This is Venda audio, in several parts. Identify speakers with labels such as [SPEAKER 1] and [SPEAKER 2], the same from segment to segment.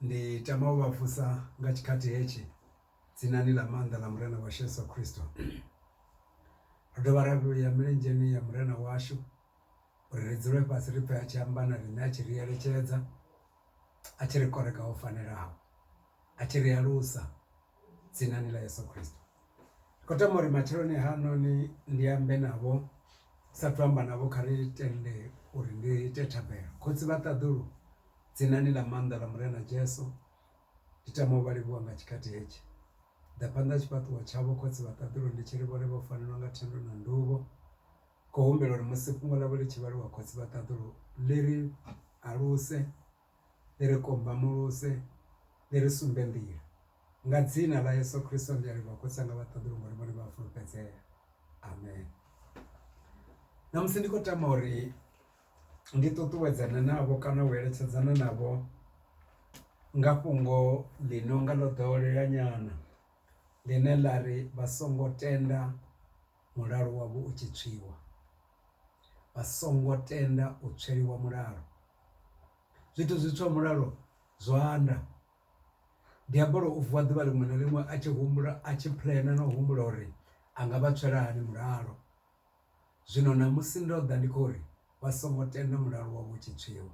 [SPEAKER 1] Ndi tama u vha vusa nga tshikhathi hetshi dzinani ḽa maanḓa ḽa Murena washu Yeso Khristo. Ro dovha ra vhuya milenzheni ya Murena washu uri ri dzule fhasi ri pfhe a tshi amba na riṋe a tshi ri eletshedza a tshi ri koreka ho fanelaho a tshi ri alusa dzinani ḽa Yeso Khristo. Ndi kho tama uri matsheloni ha noni ndi ambe navho sathu amba navho kha ri tende uri ndi ite thabelo khotsi vha ṱaḓulu dzinani ḽa maanḓa ḽa murena Jesu ndi tama u vha livhuwa nga tshikhathi hetshi ḓa phanḓa tshifhaṱuwo tshavho khotsi vha ṱaḓulu ndi tshi ri vhone vho fanelwa nga thendo na nduvho kho humbela uri musi fhungo ḽavho ḽi tshi vhaliwa khotsi vha ṱaḓulu ḽi ri aluse. ḽi ri kombamuluse ḽi ri sumbe nḓila nga dzina ḽa Yeso Khristo ndi a livhuwa khotsi anga vhaṱaḓulu ngori vhone vha a fulufhedzea amen ṋamusi ndi khou tama uri ndi ṱuṱuwedzana navho kana u eletshedzana navho nga fhungo ḽi no nga ḽo ḓowelea nyana ḽine ḽa ri vha songo tenda. mulalo wavho u tshi tswiwa, vha songo tenda u tsweliwa mulalo. Zwithu zwi tswa mulalo zwa anda. Diabolo u vuwa ḓuvha ḽiṅwe na ḽiṅwe a tshi humbula a tshi puḽena na u humbula uri a nga vha tswela hani mulalo. Zwino ṋamusi ndo ḓa ndi khou ri vha songo tenda mulalo wavho u tshi tswiwa.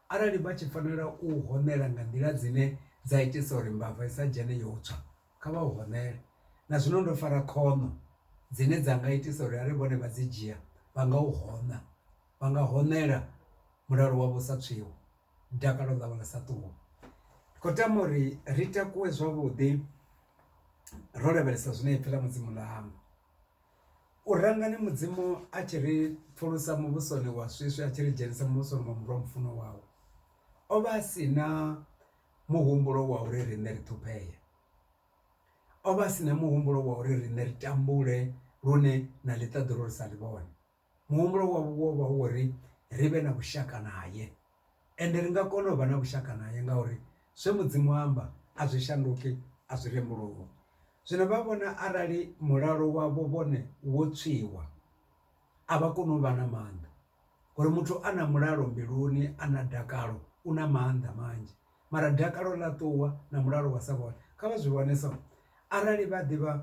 [SPEAKER 1] Arali vha tshi fanela u u hoṋela nga nḓila dzine dza itisa uri mbava i sa dzhene yo u tswa Kha vha u honele. Na zwino ndo fara khono dzine dza nga itisa uri arali vhone vha dzi dzhia vha nga u hona. Vha nga honela mulalo wavho u sa tswiwi, dakalo ḽavho ḽi sa ṱuwi. Ndi khou tama uri ri takuwe zwavhuḓi ro lavhelesa zwine ipfhi ḽa Mudzimu ḽa amba. U rangani Mudzimu a tshi ri pfulusa muvhusoni wa swiswi a tshi ri dzhenisa muvhusoni wa Murwa mufunwa wawe. O vha a si na muhumbulo wa uri riṋe ri ṱhuphee o vha a si na muhumbulo wa uri riṋe ri tambule lune na ḽi ṱaḓulu ri sa ḽi vhone muhumbulo wa vha hu uri ri vhe na vhushaka nae ende ri nga kona u vha na vhushaka nae ngauri zwe mudzimu amba a zwi shanduki a zwi rembuluwa. Zwino vha vhona arali mulalo wavho vhone wo tswiwa a vha koni u vha na maanḓa. Ngori muthu a na mulalo mbiluni a na dakalo u na maanḓa manzhi mara dakalo ḽa ṱuwa na mulalo wa sa vhone kha vha zwi vhone so arali vha ḓivha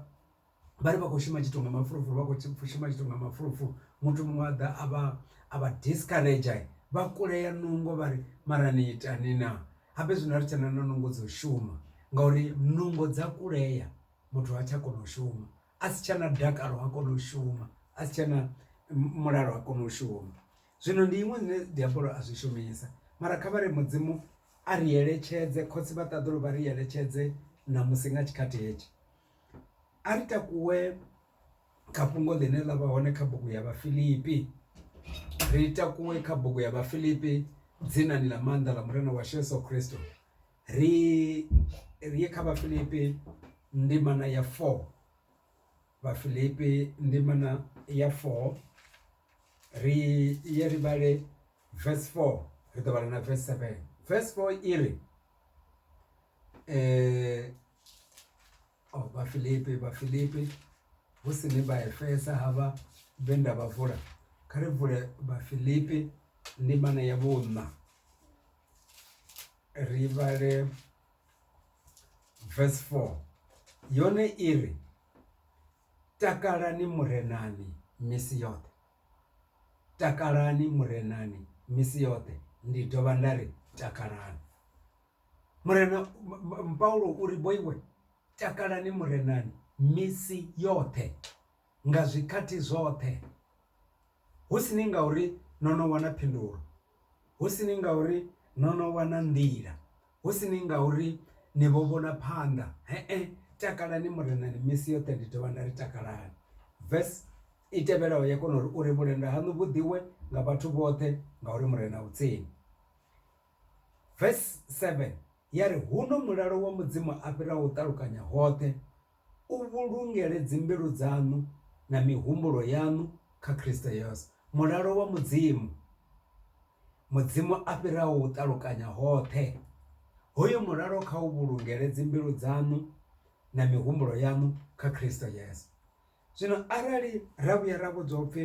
[SPEAKER 1] vhari vha kho shuma tshithu nga mafulufulu vha kho shuma tshithu nga mafulufulu muthu muṅwe a ḓa a vha a vha discourager vha kulea nungo vhari mara ni ita ni na habe zwino ari tshena na nungo dzo shuma ngauri nungo dza kulea muthu ha tsha kona u shuma a si tshena dakalo ha kona u shuma a si tshena mulalo ha kona u shuma zwino ndi iṅwe zwine diabolo a zwi shumisa mara kha vhare mudzimu a ri eletshedze khotsi vha ṱaḓulu vha ri eletshedze na musi nga tshikhathi hetshi a ri takuwe kha fhungo ḽine ḽa vha hone kha bugu ya vha filipi ri takuwe kha bugu ya vha filipi dzinani ḽa maanḓa ḽa murena wa sheso christo Ri ri ye kha Vhafilipi ndimana ya 4, Vhafilipi ndimana ya 4 ri ye ri vhale verse 4 ri ḓo vhala na verse 7 verse 4 i ri oh Vhafilipi Vhafilipi hu si ni vha Efesa havha vhe nda vha vula kha ri vule Vhafilipi ndimana ya vhuṋa ri vhale verse 4 yone iri takalani murenani misi yoṱhe takalani murenani misi yoṱhe ndi dovha nda ri takalani murena paulo uri boiwe takalani murenani misi yoṱhe nga zwikhathi zwoṱhe hu si ni ngauri no no wana phindulo hu si ni ngauri no no wana nḓila hu si ni ngauri ni vho vhona phanḓa he takalani murenani misi yoṱhe ndi dovha nda ri takalani verse i tevhelaho ya kona uri uri vhulenda hanu vhu ḓivhiwe nga vhathu vhoṱhe ngauri murena u tsini. Verse 7 ya ri huno mulalo wa mudzimu a fhiraho u ṱalukanya hoṱhe. U vhulungele dzimbilu dzaṋu na mihumbulo yaṋu kha Kristo Yesu. Mulalo wa Mudzimu, Mudzimu a fhiraho u ṱalukanya hoṱhe, hoyu mulalo kha u vhulungele dzimbilu dzaṋu na mihumbulo yaṋu kha Kristo Yesu. Zwino arali ra vhuya ra vhudzwa upfhi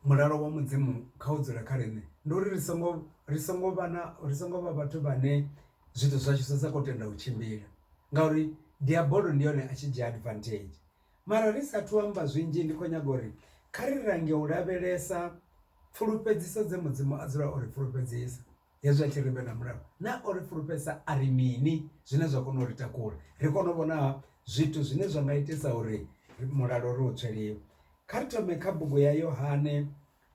[SPEAKER 1] Mulalo wa Mudzimu kha u dzule kha riṋe ndi uri ri songo ri songo vha na ri songo vha vhathu vhane zwithu zwashu zwa sa kho tenda u tshimbila ngauri diabolo ndi hone a tshi dzhia advantage. Mara ri sathu amba zwinzhi ndi kho nyaga uri kha ri lange u lavhelesa pfulufhedziso dze mudzimu a dzula o ri fulufhedzisa. Hezwi a tshi ri vhena mulalo, naa o ri fulufhedzisa a ri mini zwine zwa kona u ri takula? Ri kone u vhona zwithu zwine zwa nga itisa uri mulalo ri u tswe lini. Kha ri thome kha bugu ya Yohane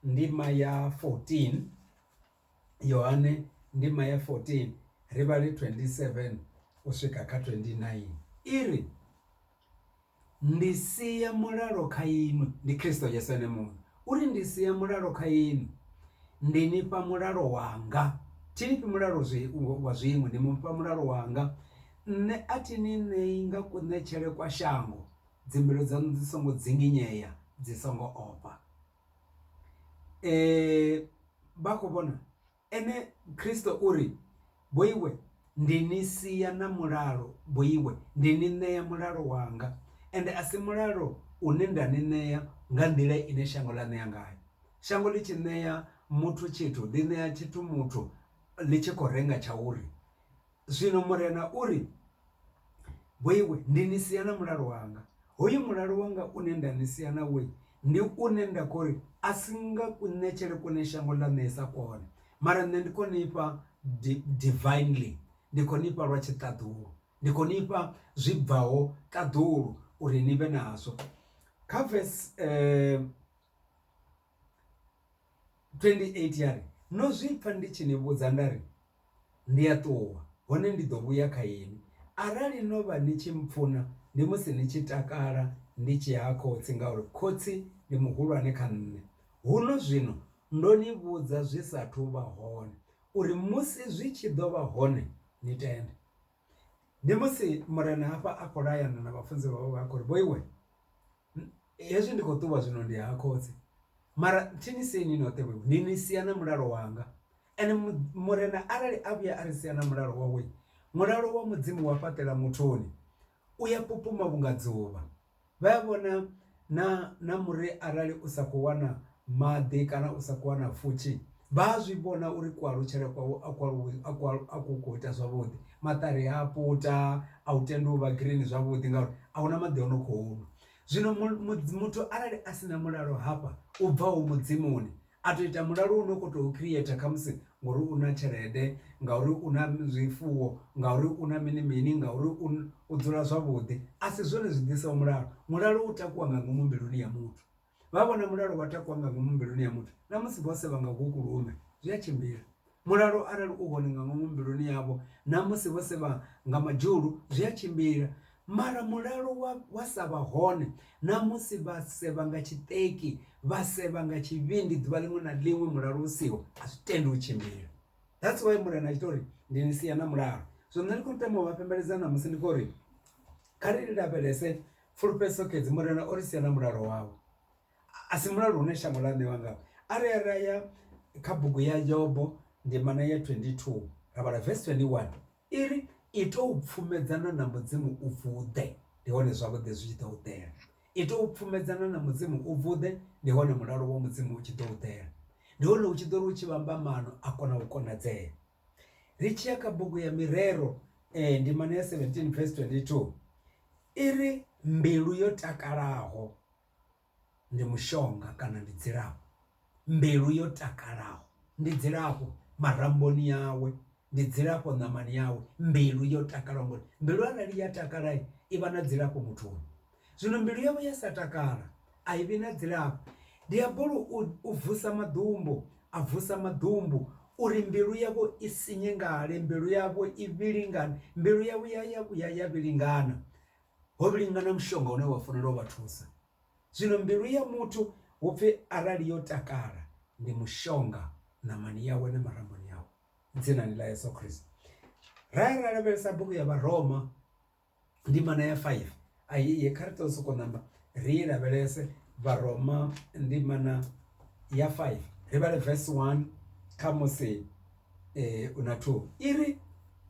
[SPEAKER 1] ndima ya 14, Yohane ndima ya 14 ri vhale 27 u swika kha 29 i ri, Ndi sia mulalo kha inwi, ndi Kristo Yesu Ene Muṋe o ri, Ndi sia mulalo kha inwi, ndi ni fha mulalo wanga. Thi ni fhi mulalo wa zwiṅwe, ndi mu fha mulalo wanga. Nṋe a thi ni ṋei nga kuṋetshele kwa shango, dzimbilu dzaṋu dzi songo dzinginyea, dzi songo ofha. Vha khou vhona? Ene Kristo u ri, Vhoiwe, ndi ni sia na mulalo, vhoiwe, ndi ni ṋea mulalo wanga, ende a si mulalo une nda ni ṋea nga nḓila ine shango ḽa ṋea ngayo. Shango ḽi tshi ṋea muthu tshithu, ḽi ṋea tshithu muthu ḽi tshi khou renga tsha uri, Zwino Murena u ri, Vho iwe, ndi ni sia na mulalo wanga. Hoyu mulalo wanga une nda ni sia nawo, ndi une nda khou ri a si nga kuṋetshele kune shango ḽa ṋeesa kwone, mara nṋe ndi khou ni fha divinely, ndi khou ni fha lwa tshiṱaḓulu, ndi khou ni fha zwi bvaho ṱaḓulu uri ni vhe nazwo. Kha vese 28 ya ri, No zwi pfa ndi tshi ni vhudza nda ri, Ndi a ṱuwa, hone ndi ḓo vhuya kha inwi. Arali no vha ni tshi mpfuna, ndi musi ni tshi takala ndi tshi ya ha Khotsi, ngauri Khotsi ndi muhulwane kha nṋe. Huno zwino ndo ni vhudza zwi sa athu u vha hone, uri musi zwi tshi ḓo vha hone ni tende. Ndi musi Murena hafha a khou layana na vhafunziwa vhawe a khou ri, Vhoiwe, Hezwi ndi khou ṱuwa zwino ndi ha khotsi mara thi ni sie ni noṱhe vhevho ndi ni sia na mulalo wanga ende murena arali a vhuya a ri sia na mulalo wawe mulalo wa mudzimu wa fhaṱela mutholi u ya pupuma vhunga dzuvha. Vha ya vhona na na muri arali u sa kho wana maḓi kana u sa kho wana pfhushi vha a zwi vhona uri ku alutshele kwawe a ku aluwi a ku a ku kho ita zwavhuḓi maṱari a puta a u tendi u vha green zwavhuḓi ngauri ahuna maḓi o no kho nwa. Zwino muthu arali a si na mulalo hafha u bvaho mudimoni a to ita mulalo u no kho to create khamusi ngori u na tshelede ngauri u na zwifuwo ngauri u na mini mini ngauri u dzula zwavhuḓi a si zwone zwi ḓiso mulalo. Mulalo u takuwa nga ngomu mbiluni ya muthu. Vha vhona mulalo wa takuwa nga ngomu mbiluni ya muthu, na musi vho sevha nga ngoku lume, zwi a tshimbila. Mulalo arali u hone nga ngomu mbiluni yavho, na musi vho sevha nga madzhulu, zwi a tshimbila. Mara mulalo wa, wa sa vha hone, na musi vha sevha nga tshiṱeki, vha sevha nga tshivhindi ḓuvha ḽiṅwe na ḽiṅwe mulalo u siho, a zwi tendi u tshimbila. That's why Murena a tshi tou ri, Ndi ni sia na mulalo. Zwino nṋe ndi khou tama u vha fhembeledza ṋamusi ndi khou ri, kha ri lavhelese Fulufhedziso Khedzi, Murena o ri sia na mulalo wawe. A si mulalo une shango ḽa ṋewa ngawo. Arali ra ya kha bugu ya Yobo ndimana ya 22 ra vhala vesi 21 i ri, Ita u pfumedzana na Mudzimu u vuḓe, ndi hone zwavhuḓi zwi tshi ḓo u ḓela. Ita u pfumedzana na Mudzimu u vuḓe, ndi hone mulalo wa Mudzimu u tshi ḓo u ḓela. Ndi hone u tshi ḓo ri u tshi vhamba maano a kona u konadzea. ri tshi ya kha bugu ya mirero eh, ndimana ya 17 verse 22 i ri mbilu yo takalaho ndi mushonga kana ndi dzilafho mbilu yo takalaho ndi dzilafho maramboni yawe ndi dzilafho ṋamani yawe mbilu yo takalaho ngori mbilu arali ya takala i vha na dzilafho muthuni Zwino mbilu yavho ya sa takala, a i vhi na dzilafho. Diabolo u vusa maḓumbu, a vusa maḓumbu, uri mbilu yavho i sinyengale, mbilu yavho i vhilingane, mbilu yavho ya ya vhuya ya vhilingana, ho vhilingana mushonga une wa fanela u vha thusa. Zwino mbilu ya muthu hu pfi arali yo takala, ndi mushonga ṋamani yawe na maramboni awe, dzinani ḽa Yesu Kristo. Ra ya ra lavhelesa bugu ya Vharoma, ndimana ya 5 a i ye kha ri to soko namba ri lavhelese vharoma ndimana ya 5 ri vhale verse 1 kha musi u na 2 iri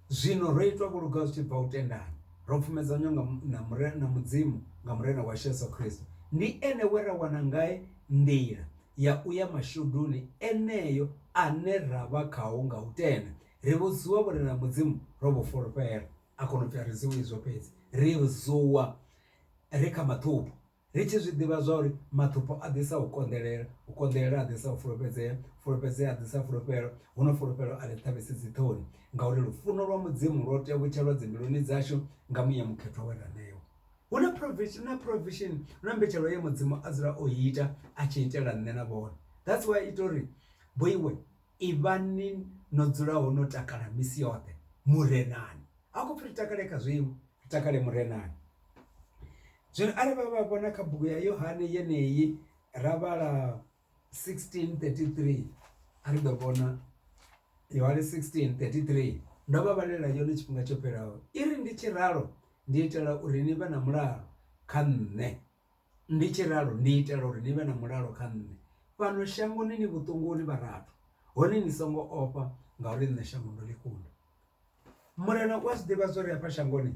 [SPEAKER 1] zwino ro itwa vhuluga zwi tshi bva u tendana ro pfumedzanywa nga na mure na mudzimu nga murena wa Yesu Kristo ndi ene we ra wana ngae nḓila ya u ya mashuduni eneyo ane ra vha khao nga u tenda ri vhudziwa vhurena mudzimu ro vhu fulufhela A kona u pfi a ri dzuwi izwo fhedzi ri dzuwa ri kha maṱhupho ri tshi zwi ḓivha zwa uri maṱhupho a ḓisa u konḓelela, u konḓelela a ḓisa u fulufhedzea, fulufhedzea a ḓisa fulufhelo huno fulufhelo a ḽi ṱhavhisi dzi ṱhoni ngauri lufuno lwa mudzimu lwo tevhutshelwa dzi mbiluni dzashu nga muya mukhethwa we ra ṋewa. Huna provision huna provision huna mbetshelo ye mudzimu a dzula o ita a tshi itela nṋe na vhone that's why ita uri vho iwe. Ivhani no dzulaho no takala misi yoṱhe Murenani. Ha khou pfi ri takale kha zwiṅwe, ri takale Murenani. Zwino arali vha vha vhona kha bugu ya Yohane yeneyi ra vhala 16:33 a ri ḓo vhona Yohane 16:33 ndo vha vhalela yone tshifhinga tsho fhelaho, i ri, Ndi tshi ralo ndi itela uri ni vhe na mulalo kha nṋe Ndi tshi ralo ndi itela uri ni vhe na mulalo kha nṋe. Fhano shangoni ni vhuṱunguni vharathu, hone ni songo ofha ngauri nṋe shango ndo ḽi kunda. Murena u a zwi ḓivha zwa uri hafha shangoni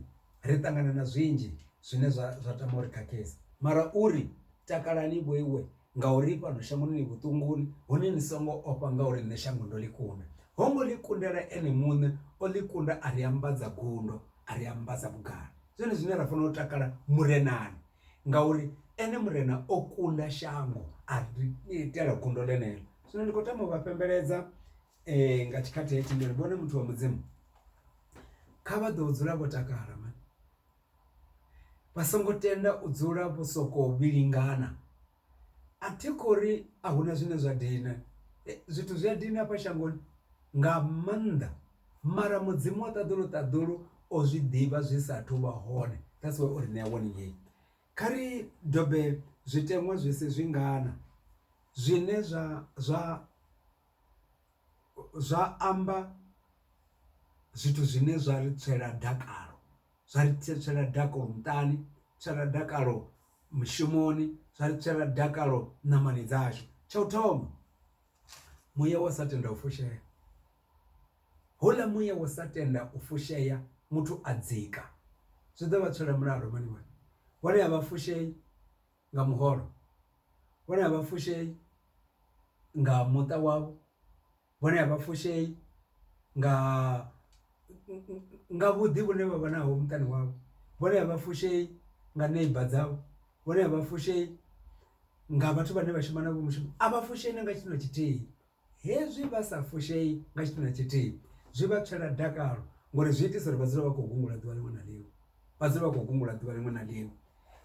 [SPEAKER 1] ri ṱangana na zwinzhi zwine zwa zwa tama uri khakhisa mara uri takalani vhoiwe ngauri fhano shangoni ni vhuṱunguni hone ni songo ofha ngauri nṋe shango ndo ḽi kunda. Ho ngo ḽi kundela ene muṋe o ḽi kunda a ri ambadza gundo a ri ambadza vhugala. zwone zwine ra fanela u takala murenani ngauri ene murena o kunda shango a ri itela gundo ḽeneḽo. Zwino ndi khou tama uvha fhembeledza nga tshikhathi hetshi ndi uri vhone muthu wa mudzimu kha vha ḓo dzula vho takala mani vha songo tenda u dzula vho soko vhilingana A thi khori a huna zwine zwa dina zwithu zwi a dina hafha shangoni nga maanḓa mara mudzimu wa ṱaḓulu ṱaḓulu o zwi ḓivha zwi sa athu vha hone that's why o ri ṋea warning heyi. Kha ri dobe zwiteṅwa zwi si zwi ngana zwine zwa zwa zwa amba zwithu zwine zwa ri tswela dakalo. zwa ri tswela dakalo muṱani tswela dakalo mushumoni zwa ri tswela dakalo ṋamani dzashu tsha u thoma muya wa sa tenda u fushea houḽa muya wa sa tenda u fushea muthu a dzika zwi ḓo vha tswela mulalo mani wani vhone a vha fushei nga muholo vhone a vha fushei nga muṱa wavho. vhone a vha fushei nga nga vhuḓi vhune vha vha naho muṱani wavho, vhone a vha fushei nga neiba dzavho, vhone a vha fushei nga vhathu vhane vha shuma navho mushumo a vha fushei na nga tshithu na tshithihi. Hezwi vha sa fushei nga tshithu na tshithihi zwi vha tswela dakalo ngori zwi itisa uri vha dzule vha khou gungula ḓuvha liṅwe na liṅwe vha dzule vha khou gungula ḓuvha liṅwe na liṅwe.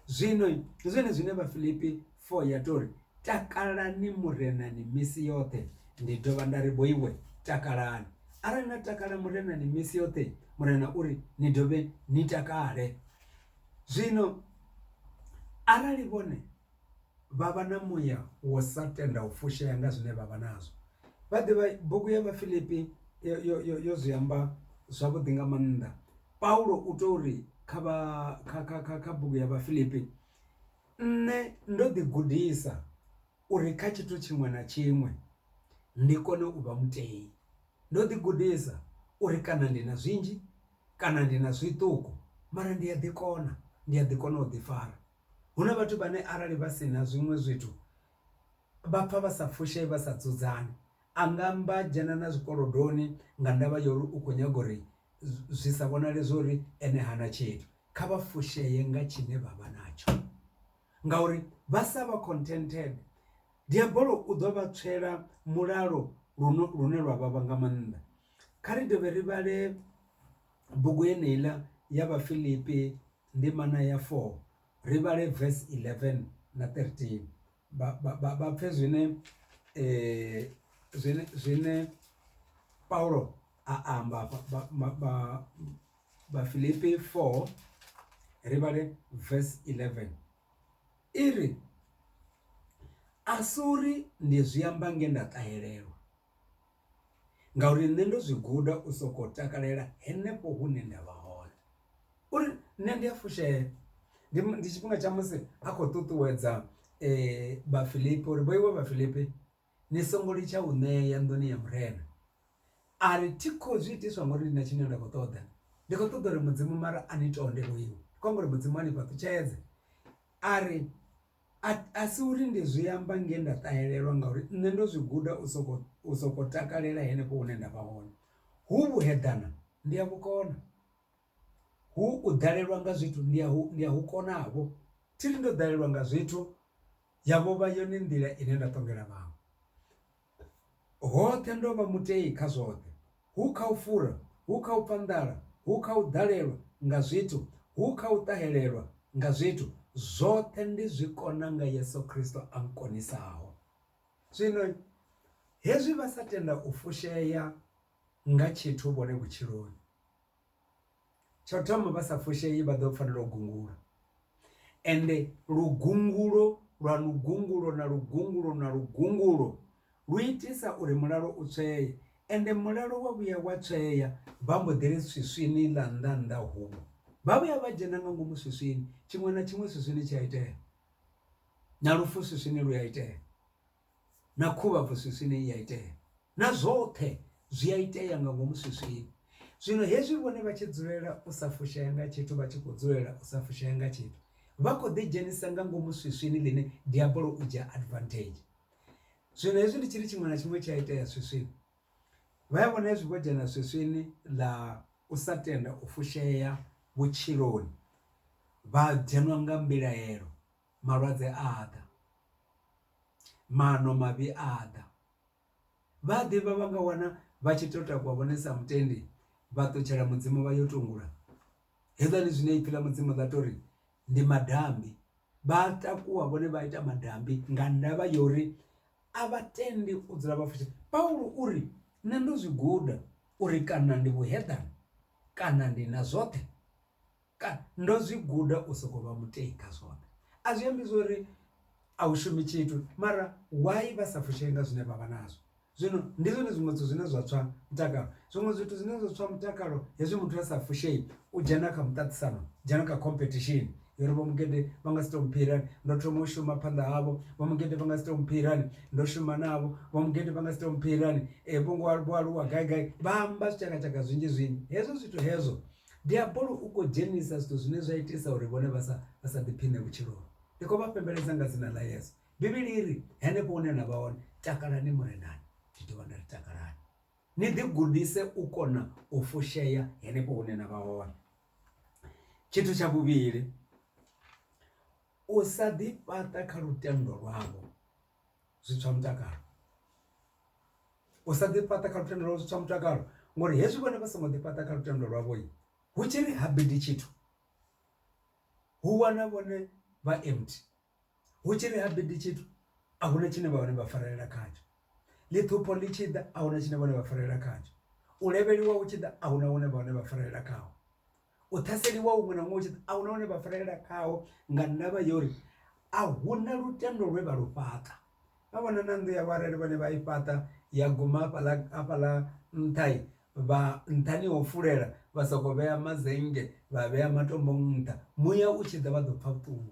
[SPEAKER 1] Zwino ndi zwone zwine Vhafilipi 4 ya tori takalani murenani misi yoṱhe ndi dovha nda ri bo iwe takalani arali na takala murenani misi yoṱhe murena uri ni dovhe ni takale zwino arali vhone vha vha na muya wo sa tenda u fushea nga zwine vha vha nazwo. Vha ḓivha bugu ya vhafilipi yo yo yo yo zwi amba zwavhuḓi nga maanḓa Paulo u to ri kha vha kha kha kha kha bugu ya vhafilipi nṋe ndo ḓi gudisa uri kha tshithu tshiṅwe na tshiṅwe ndi kone u vha mutei. Ndo ḓi gudisa uri kana ndi na zwinzhi kana ndi na zwiṱuku mara ndi a ḓi kona ndi a ḓi kona u ḓi fara. Hu na vhathu vhane arali vha si na zwiṅwe zwithu vha pfha vha sa fushei vha sa dzudzani a nga amba dzhena na zwikolodoni nga ndavha ya uri u kho nyaga uri zwi sa vhonale zwa uri ene hana tshithu. Kha vha fushea nga tshine vha vha natsho ngauri vha sa vha contented diabolo u ḓo vha tswela mulalo lune lune lwa vhavha nga maanḓa. Kha ri dovhe ri vhale bugu yeneiḽa ya vhafiḽipi Ndimana ya 4, ri vhale vesi 11 na 13, vha pfe zwine zwine Paulo a amba afha. Vhafilipi 4, ri vhale vesi 11, i ri, A si uri ndi zwi amba nge nda ṱahelelwa. ngauri nṋe ndo zwi guda u soko takalela henefho hune ndavha hone uri nṋe ndi a fushea. Ndi ndi tshifhinga tsha musi a khou ṱuṱuwedza vhafilipi uri vho iwe vhafilipi ni songo litsha u ṋea nḓuni ya Murena ari thi kho zwi itiswa ngori ndi na tshine nda kho ṱoḓa ndi kho ṱoḓa uri mudzimu mara a ni tonde vho iwe kho amba uri mudzimu a ni fhaṱutshedze ari. A, a si uri ndi zwi amba nge nda ṱahelelwa ngauri nṋe ndo zwi guda u sokou, u sokou takalela henefho hune nda vha hone. Hu vhuheḓana, ndi a vhu kona. Hu u ḓalelwa nga zwithu, ndi a hu, ndi a hu kona-vho. Thi ri ndo ḓalelwa nga zwithu, ya vho vha yone nḓila ine nda ṱongela vhaṅwe. Hoṱhe ndo vha mutei kha zwoṱhe, hu kha u fura, hu kha u pfa nḓala, hu kha u ḓalelwa nga zwithu, hu kha u ṱahelelwa nga zwithu, zwoṱhe ndi zwi kona nga Yesu Kristo a nkonisaho. Zwino hezwi vha sa tenda u fushea nga tshithu vhone vhutshiloni. Tsho thoma vha sa fushei vha ḓo fanela u gungula ende lugungulo lwa lugungulo na lugungulo na lugungulo lu itisa uri mulalo u tswee ende mulalo wa vhuya wa tswea vha mbo ḓi ri swiswini ḽa nnḓa nnḓa huṅwe vha vhuya vha dzhena nga ngomu swiswini tshiṅwe na tshiṅwe swiswini tshi a itea na lufu swiswini lu a itea. na khuvha afho swiswini i a itea na zwoṱhe zwi a itea nga ngomu swiswini. Zwino hezwi vhone vha tshi dzulela u sa fushea nga tshithu vha tshi kho dzulela u sa fushea nga tshithu vha kho ḓi dzhenisa nga ngomu swiswini ḽine diabolo u dzhia advantage. Zwino hezwi ndi tshiri tshiṅwe na tshiṅwe tshi a itea swiswini vha ya vhona hezwi vho dzhena swiswini ḽa u sa tenda u fushea vhutshiloni vha dzhenwa nga mbilaelo malwadze a a ḓa, maano mavhi a a ḓa vha a ḓivha vha nga wana vha tshi to takuwa vhone sa mutendi vha ṱutshela mudzimu vha yo tungula hezwiḽani zwine ipfhi ḽa mudzimu ḽa tori ndi madambi. Vha a takuwa vhone vha ita madambi nga ndavha ya uri a vha tendi u dzula vha futhi Paulo uri nṋe ndo zwi guda uri kana ndi vhuheḓane kana ndi na zwoṱhe. Kana, Ndo zwi guda u sokou vha mutei kha zwoṱhe. A zwi ambi zwori a u shumi tshithu, mara why vha sa fushei nga zwine vha vha nazwo? Zwino ndi zwone zwiṅwe zwithu zwine zwa tswa mutakalo. Zwiṅwe zwithu zwine zwa tswa mutakalo hezwi muthu a sa fushei u dzhena kha muṱaṱisano, dzhena kha khomphethishini ya uri vho Mugede vha nga si tou mphira hani, ndo thoma u shuma phanḓa havho, vho Mugede vha nga si tou mphira hani, ndo shuma navho, vho Mugede vha nga si tou mphira hani, vho ngo vho aluwa gai gai. Vha amba zwitshakatshaka zwinzhi zwinzhi, hezwo zwithu hezwo Diabolo u khou dzhenisa zwithu zwine zwa itisa uri vhone vha sa vha sa ḓiphiṋe vhutshiloni. Ndi khou vha fhembeledza nga dzina ḽa Yesu. Bivhili iri henefho hune na vha hone takalani Murenani, ndi dovha nda ri takalani ni ḓi gudise u kona u fushea henefho hune na vha hone. Tshithu tsha vhuvhili u sa ḓi fhaṱa kha lutendo lwavho. zwi tswa mutakalo u sa ḓi fhaṱa kha lutendo lwau zwi tswa mutakalo ngori hezwi vhone vha songo ḓi fhaṱa kha lutendo lwavho hu tshi ri ha bidi tshithu hu wana vhone vha empty hu tshi ri ha bidi tshithu a huna tshine vha hone vha farelela khatsho ḽi ṱhupho ḽi tshi ḓa a huna tshine vhone vha farelela khatsho u levheliwa hu tshi ḓa a huna hune vha hone vha farelela khaho. U ṱhaseliwa huṅwe na huṅwe hu tshi ḓa, a hu na hune vha farelela khaho nga ndavha ya uri a hu na lutendo lwe vha lu fhaṱa. Vha vhona na nnḓu yavho arali vhone vha i fhaṱa ya guma hafhaḽa hafhaḽa nṱha, vha nṱhani ha u fulela vha sokou vhea mazennge vha vhea matombo nṱha muya u tshi ḓa vha ḓo pfha vhuṱungu.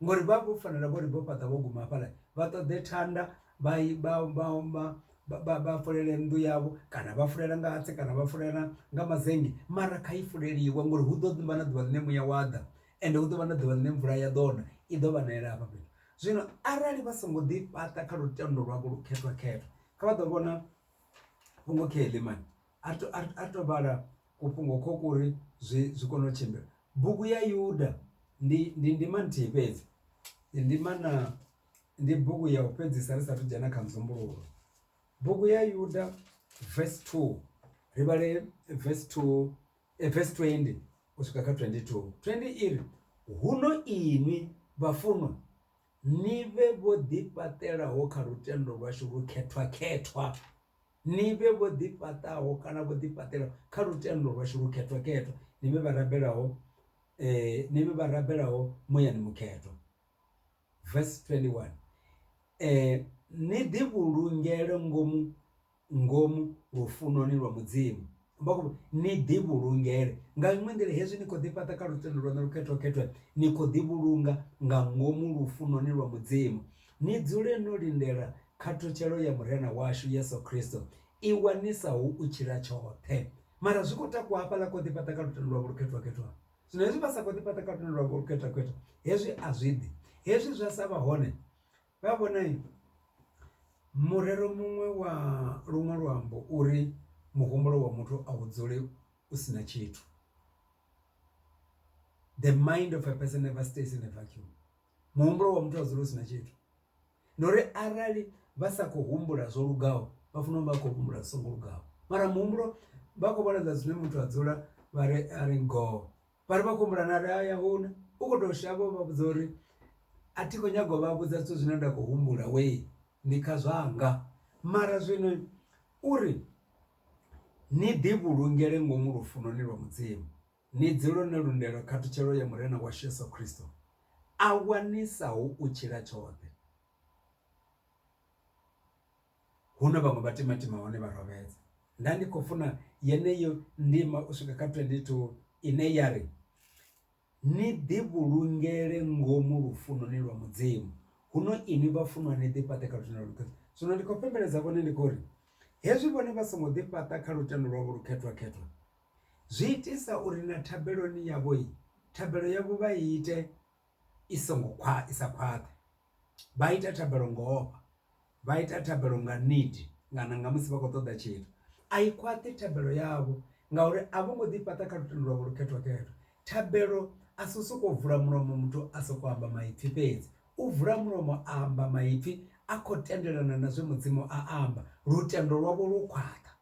[SPEAKER 1] ngori vha vho fanela vhori vho fhaṱa vho guma hafhaḽa vha ṱoḓe thanda vha i vha vha vha vha vha fulele nnḓu yavho kana vha fulela nga hatsi kana vha fulela nga mazennge mara kha i fuleliwa ngori hu ḓo ḓi vha na ḓuvha ḽine muya wa ḓa ende hu ḓo vha na ḓuvha ḽine mvula ya ḓo na i ḓo vha na yela hafha fhethu. Zwino arali vha songo ḓi fhaṱa kha lutendo lwavho lu khethwa khetha kha vha ḓo vhona fhungo kha heḽi mani. a ri to vhala kufhungo kho kuri zwi zwi kone u tshimbila. Bugu ya yuda ndi ndi ndima nthihi fhedzi ndi ndima na ndi bugu ya u fhedzisa ri sathu dzhena kha muzumbuluwo bugu ya yuda vs two ri vhale vs two vs twendi u swika kha twendi two twendi iri huno inwi vhafunwa ni vhe vho ḓi fhaṱela ho kha lutendo lwashu lu khethwa khethwa. ni vhe vho ḓifhaṱaho kana vho ḓifhaṱelaho kha lutendo lwashu lukhethwa-khethwa, ni vhe vha rabelaho, ni vhe vha rabelaho muyani mukhethwa. Verse 21, Ni ḓivhulungele ngomu ngomu lufunoni lwa Mudzimu. vha khou ni ḓi vhulungele nga iṅwe nḓila hezwi ni kho ḓi fhaṱa kha lutendo lwanu lukhetho khethwe ni kho ḓi vhulunga nga ngomu lufunoni lwa mudzimu ni dzule no lindela khathutshelo ya murena washu yesu kristo i wanisaho u tshila tshoṱhe mara zwi khou takuwa hafhaḽa kho ḓi fhaṱa kha lutendo lwavho lukhetho khethwa zwino hezwi vha sa kho ḓi fhaṱa kha lutendo lwavho lukhetho khethwa hezwi a zwi ḓi hezwi zwa sa vha hone Uyavhona murero muṅwe wa luṅwe luambo uri muhumbulo wa muthu a u dzule u sina tshithu the mind of a person never stays in a vacuum muhumbulo wa muthu a dzule u sina tshithu. Ndi uri arali vha sa kho humbula zwo lugaho vha funa u vha khou humbula zwi songo lugaho mara muhumbulo vha khou vhona zwine muthu a dzula vha ri a ri ngoho vhari vha khou humbula na uri hai ahuna u kho to shavha u vha vhudza uri a thi kho nyaga u vha vhudza zwithu zwine nda khou humbula wee ndi kha zwanga. Mara zwino uri ni ḓi vhulungele ngomu lufunoni lwa mudzimu ni dzule no lindela khathutshelo ya murena washu yeso christo a wanisaho u tshila tshoṱhe. Hu na vhaṅwe vha timatima hone vha rovhedza. Nda ndi khou funa yeneyo ndima u swika kha 22 ine ya ri, Ni ḓi vhulungele ngomu lufunoni lwa Mudzimu, huno inwi vhafunwa ni ḓi fhaṱe kha lutendo lwa Khristo. Zwino ndi khou fhembeledza vhone ndi khou ri, hezwi vhone vha songo ḓi fhaṱa kha lutendo lwavho lukhethwa-khethwa, zwi itisa uri na thabeloni yavho, thabelo yavho vha i ite i songo khwa i sa khwaṱhi vha ita thabelo ngo ofha vha ita thabelo nga need kana nga musi vha khou ṱoḓa tshithu. A i khwaṱhi thabelo yavho ngauri a vho ngo ḓi fhaṱa kha lutendo lwavho lu khethwa khetho thabelo a si u soko vula mulomo muthu a soko amba maipfhi fhedzi u vula mulomo a amba maipfhi a khou tendelana na zwe mudzimu a amba lutendo lwavho lu khwaṱha.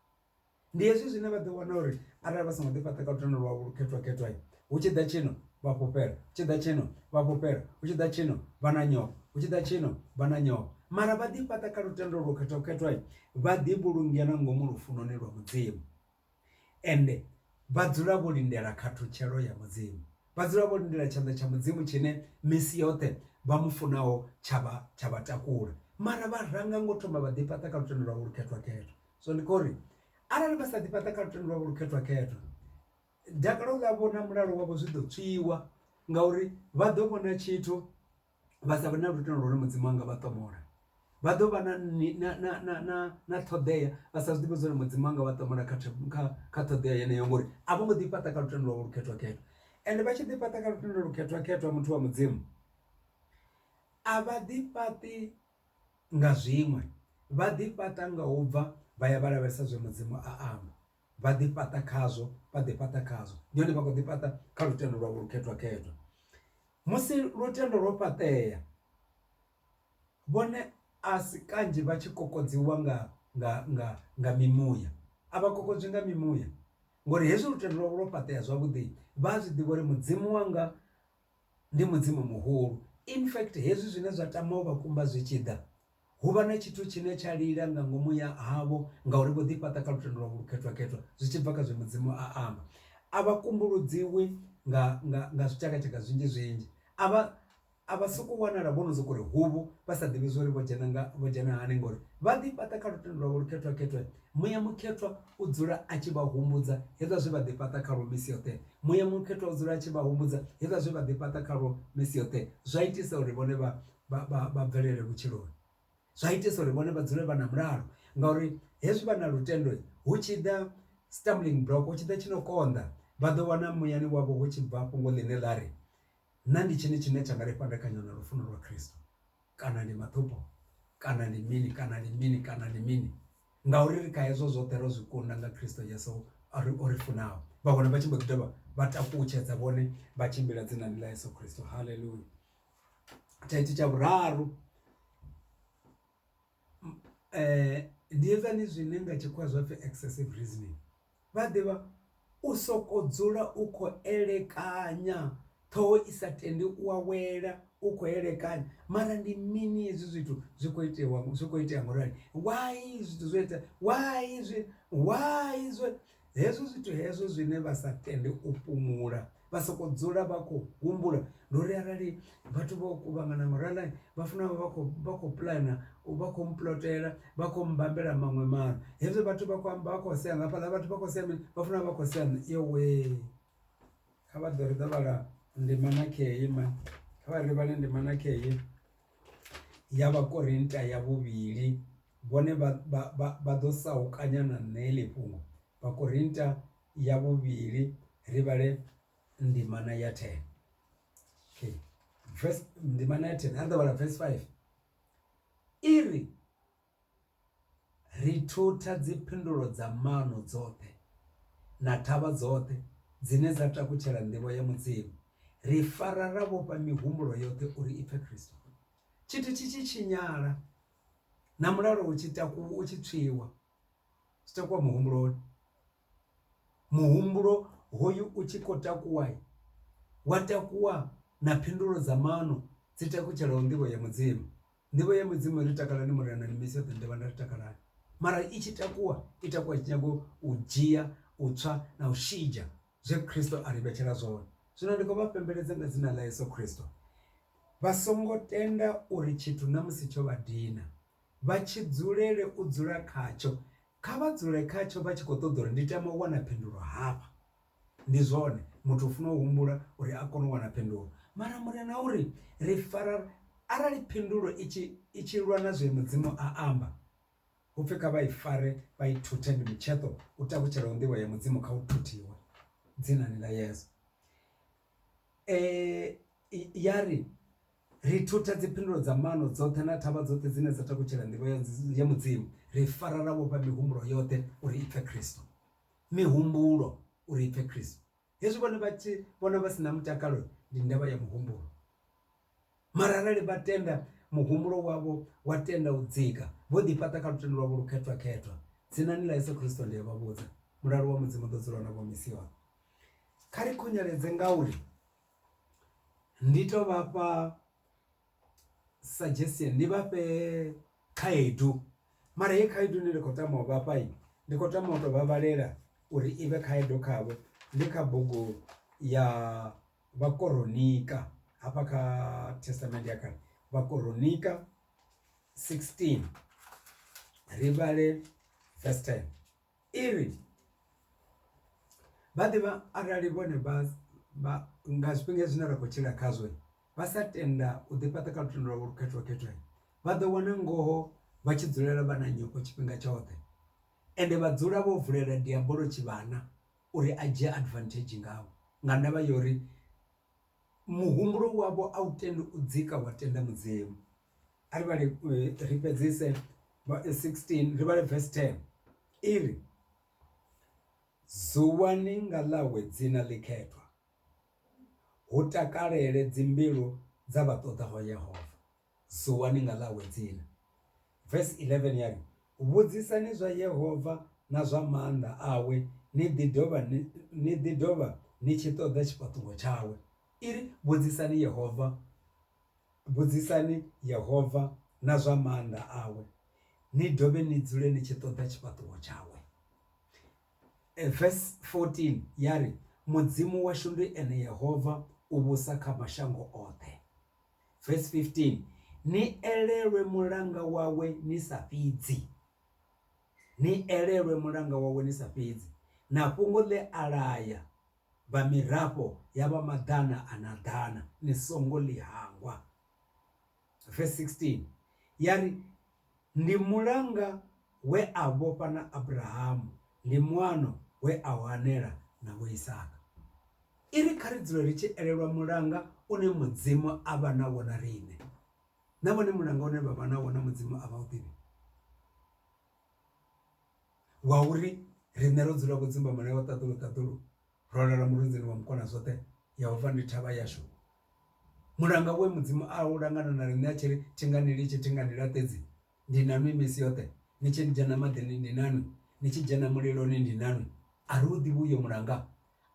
[SPEAKER 1] Ndi hezwi zwine vha ḓo wana uri arali vha songo ḓi fhaṱa kha lutendo lwa vhu khethwa khethwa hu tshi ḓa tshino vha fhufhela hu tshi ḓa tshino vha fhufhela hu tshi ḓa tshino vha na nyofho hu tshi ḓa tshino vha na nyofho mara vha ḓi fhaṱa kha lutendo lwo khethwa khethwa vha ḓi vhulungela ngomu lufunoni lwa mudzimu ende vha dzula vho lindela khathutshelo ya mudzimu vha dzula vho lindela tshanḓa tsha mudzimu tshine misi yoṱhe vha mu funaho tsha vha tsha vha takula mara vha ranga ngo thoma vha ḓi fhaṱa kha lutendo lwa vhu khethwa khethwa so ndi kho uri arali vha sa ḓi fhaṱa kha lutendo lwavho lu khethwa khethwa dakalo ḽa vhona mulalo wavho zwi ḓo tswiwa ngauri vha ḓo vhona tshithu vha sa vhe na lutendo lune mudzimu anga vha ṱomola vha ḓo vha na na ṱhoḓea vha sa zwiḓivhe zwori mudzimu anga vha ṱomola kha kha kha ṱhoḓea yeneyo ngori a vho ngo ḓi fhaṱa kha lutendo lwavho lu khethwa khethwa ende vha tshi ḓi fhaṱa kha lutendo lu khethwa khethwa muthu wa mudzimu a vha ḓi fhaṱi nga zwiṅwe, vha ḓi fhaṱa nga u bva vha ya vha lavhelesa zwe Mudzimu a amba vha ḓi fhaṱa khazwo vha ḓi fhaṱa khazwo ndi hone vha kho ḓi fhaṱa kha lutendo lwavho lu khethwa khethwa musi lutendo lwo fhaṱea vhone a si kanzhi vha tshi kokodziwa nga nga nga nga mimuya a vha kokodzwi nga mimuya ngori hezwi lutendo lwavho lwo fhaṱea zwavhuḓi vha a zwi ḓivha uri Mudzimu wanga ndi Mudzimu muhulu. In fact, hezwi zwine zwa tama u vha kumba zwi tshi ḓa, hu vha na tshithu tshine tsha lila nga ngomu ya havho ngauri vho ḓifhaṱa kha lutendo lwavho lukhethwa-khethwa zwi tshi bva kha zwe Mudzimu a amba. A vha kumbuludziwi nga, nga, nga zwitshakatshaka zwinzhi-zwinzhi. A vha, a vha sokou wanala vho no sokou ri huvhu vha sa ḓivhi zwa uri vho dzhena, nga, vho dzhena hani ngauri vha ḓifhaṱa kha lutendo lwavho lukhethwa-khethwa Muya Mukhethwa u dzula a tshi vha humbudza hezwa zwe vha ḓifhaṱa khalwo misi yoṱhe. Muya Mukhethwa u dzula a tshi vha humbudza hezwa zwe vha ḓifhaṱa khalwo misi yoṱhe. Zwa itisa uri vhone vha, vha, vha, vha bvelele vhutshiloni. Zwa itisa uri vhone vha dzule vha na mulalo. Ngauri hezwi vha na lutendo, hu tshi ḓa stumbling block, hu tshi ḓa tshi no konḓa, vha ḓo wana muyani wavho hu tshi bva fhungo ḽine ḽa ri, Nṋa ndi tshini tshine tsha nga ri fhandekanya na lufuno lwa Kristo? kana ndi maṱhupo kana ndi mini kana ndi mini kana ndi mini ngauri ri kha hezwo zwoṱhe ro zwi kunda nga Khristo Yesu a ri o ri funaho vha vhona vha tshi mbo ḓi dovha vha takutshedza vhone vha tshimbila dzinani ḽa Yesu Khristo haleluya thaithi tsha vhuraru um ndi edzani zwine nga tshikhuwa zwapfhi excessive reasoning Vha ḓivha, u sokou dzula u khou elekanya, ṱhoho i sa tendi u awela u khou elekanya. Mara ndi mini hezwi zwithu zwi khou itewa, zwi khou itea ngaurali? Why zwithu zwo itea, why zwi, why zwo. Hezwo zwithu hezwo zwine vha sa tende u fhumula. vha soko dzula vha khou humbula ndi uri arali vhathu vho kuvhangana nga u rali vha funa vha kho vha kho puḽana vha kho puḽotela vha kho mmbambela maṅwe maano. Hezwi vhathu vha khou amba vha khou sea nga hafhaḽa vhathu vha khou sea mini vha funa vha khou sea mini yowe kha vha ḓo ri ḓo vhala ndima na khei mani kha vha ri vhale ndima na khei ya vhakorinta ya vhuvhili vhone vha ḓo sa u kanya na nṋe heḽi fhungo Vhakorinta ya vhuvhili ri vhale ndimana ya 10 okay verse ndimana ya 10 a ri ḓo vhala verse 5 iri ri thutha dziphindulo dza mano dzoṱhe na thavha dzoṱhe dzine dza takutshela nḓivho ya mudzimu ri fara ra vhofha mihumbulo yoṱhe uri i pfe Kristo tshithu tshi tshi tshinyala na mulalo u tshi takuwa u tshi tswiwa zwi takuwa muhumbuloni muhumbulo hoyu u tshi khou takuwa wa takuwa na phindulo dza maano dzi takutshela nḓivho ya mudzimu. Nḓivho ya mudzimu ri takalani Murena ni misi yoṱhe ni ḓo vha na ri takalani mara i tshi takuwa i takuwa tshi nyaga u dzhia u tswa na u shidzha zwe Christo a ri vhetshela zwone. Zwino ndi khou vha fhembeledza nga dzina ḽa Yeso Christo vha songo tenda uri tshithu na musi tsho vha dina. vha tshi dzulele u dzula khatsho, kha vha dzule khatsho vha tshi khou ṱoḓa uri ndi tama u wana phindulo hafha. Ndi zwone, muthu u funa u humbula uri a kone u wana phindulo. Mara Murena u ri, Ri fara, arali phindulo i tshi, i tshi lwa na zwe Mudzimu a amba, hu pfi kha vha i fare vha i thuthe, ndi mutsheṱo u tavhutshelaho nḓivho ya Mudzimu kha u thuthiwe, Dzinani ḽa Yesu. Ya ri, Ri thutha dziphindulo dza maano dzoṱhe na thavha dzoṱhe dzine dza takutshela nḓivho ya Mudzimu, ri fara ra vhofha mihumbulo yoṱhe uri i pfe Kristo. Mihumbulo uri i pfe Kristo. Hezwi vhone vha tshi vhona vha si na mutakalo, ndi ndavha ya muhumbulo. mara arali vha tenda muhumbulo wavho wa tenda u dzika vho ḓi fhaṱa kha lutendo lwavho lu khethwa khethwa dzinani ḽa Yeso Khristo ndi a vha vhudza mulalo wa mudzimu ḓo dzula na vho misi yoṱhe kha ri khunyeledze ngauri ndi to vhafha suggestion ndi vhafhe khaedu mara ye khaedu ine ndi khou tama u vhafha ndi khou tama u to vha vhalela uri i vhe khaedu khavho ndi kha bugu ya Vhakoronika, hafha kha Thestamende ya Kale, Vhakoronika 16 ri vhale verse 10 i ri, Vha ḓivha arali vhone vha vha nga zwifhinga zwine ra khou tshila khazwo vha sa tenda u ḓi fhaṱa kha lutendo lwavho lu khethiwa khethwaho vha ḓo wana ngoho vha tshi dzulela vha na nyofho tshifhinga tshoṱhe ende vha dzula vho vulela diabolo tshivhana uri a dzhie advantage ngavho nga ndavha ya uri muhumbulo wavho a u tendi u dzika wa tenda mudzimu. A ri vhale ri fhedzise 16 ri vhale verse 10 iri, Zuwani nga ḽawe dzina ḽikhethwa, hu takalele dzimbilu dza vha ṱoḓaho Yehova. Suwani nga ḽawe dzina. Vesi 11 ya ri, Vhudzisani zwa Yehova na zwa maanḓa awe ni ḓi dovha ni ḓi dovha ni tshi ṱoḓa tshifhaṱuwo tshawe. I ri, Vhudzisani Yehova, vhudzisani Yehova na zwa maanḓa awe, ni dovhe ni dzule ni tshi ṱoḓa tshifhaṱuwo tshawe. Vesi 14 ya ri, Mudzimu washu ndi ene Yehova, u vhusa kha mashango oṱhe. Verse 15 ni elelwe mulanga wawe ni sa fhidzi ni elelwe mulanga wawe ni sa fhidzi na fhungo ḽe a laya vha mirafho ya vha maḓana a na ḓana ni songo ḽi hangwa verse 16 ya ri Ndi mulanga we a vhofha na Abrahamu, ndi muano we a u anela na Vho Isaka. I ri kha ri dzule ri tshi elelwa mulanga une Mudzimu a vha nawo na riṋe. Na vhone mulanga une vha vha nawo na Mudzimu a vha u ḓivhi? Wa uri riṋe ro dzula vho dzumbamulayo wa ṱaḓulu ṱaḓulu? ro lala murunzini wa mukona zwoṱhe yehova ndi thavha yashu. Mulanga we mudzimu a u langa na na riṋe a tshi ri thi nga ni litshi thi nga ni laṱedzi ndi na nwi misi yoṱhe ni tshi dzhena maḓini ndi na nwi ni tshi dzhena muliloni ndi na nwi a ri u ḓivhi uyo mulanga.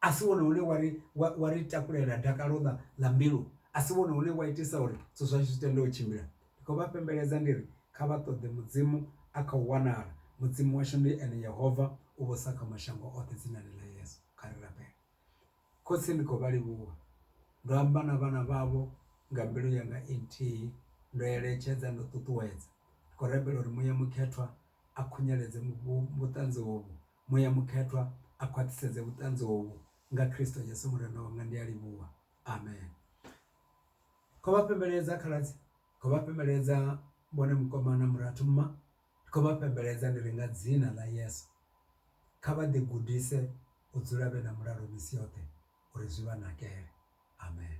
[SPEAKER 1] A si wone une wa ri wa ri takulela dakalo ḽa ḽa mbilu a si wone une wa itisa uri zwithu zwashu zwi tende u tshimbila Ndi khou vha fhembeledza ndi ri, Kha vha ṱoḓe Mudzimu, a khou wanala. Mudzimu washu ndi ene Yehova, u vhusa kha mashango oṱhe dzinani ḽa Yesu. Kha ri rabele. Khotsi, ndi khou vha livhuwa. Ndo amba na vhana vhavho nga mbilu yanga i nthihi, ndo eletshedza, ndo ṱuṱuwedza. Ndi khou rabela uri Muya Mukhethwa a khunyeledze vhuṱanzi hovhu. Muya Mukhethwa a khwaṱhisedze vhuṱanzi hovhu. Nga Kristo Yesu Murena wanga ndi a livhuwa. Amen. kho vha fhembeledza khaladzi kho vha fhembeledza vhone mukoma na murathu mma ndi khou vha fhembeledza ndi ri nga dzina ḽa yeso kha vha ḓi gudise u dzula vhe na mulalo misi yoṱhe uri zwi vha nakele amen.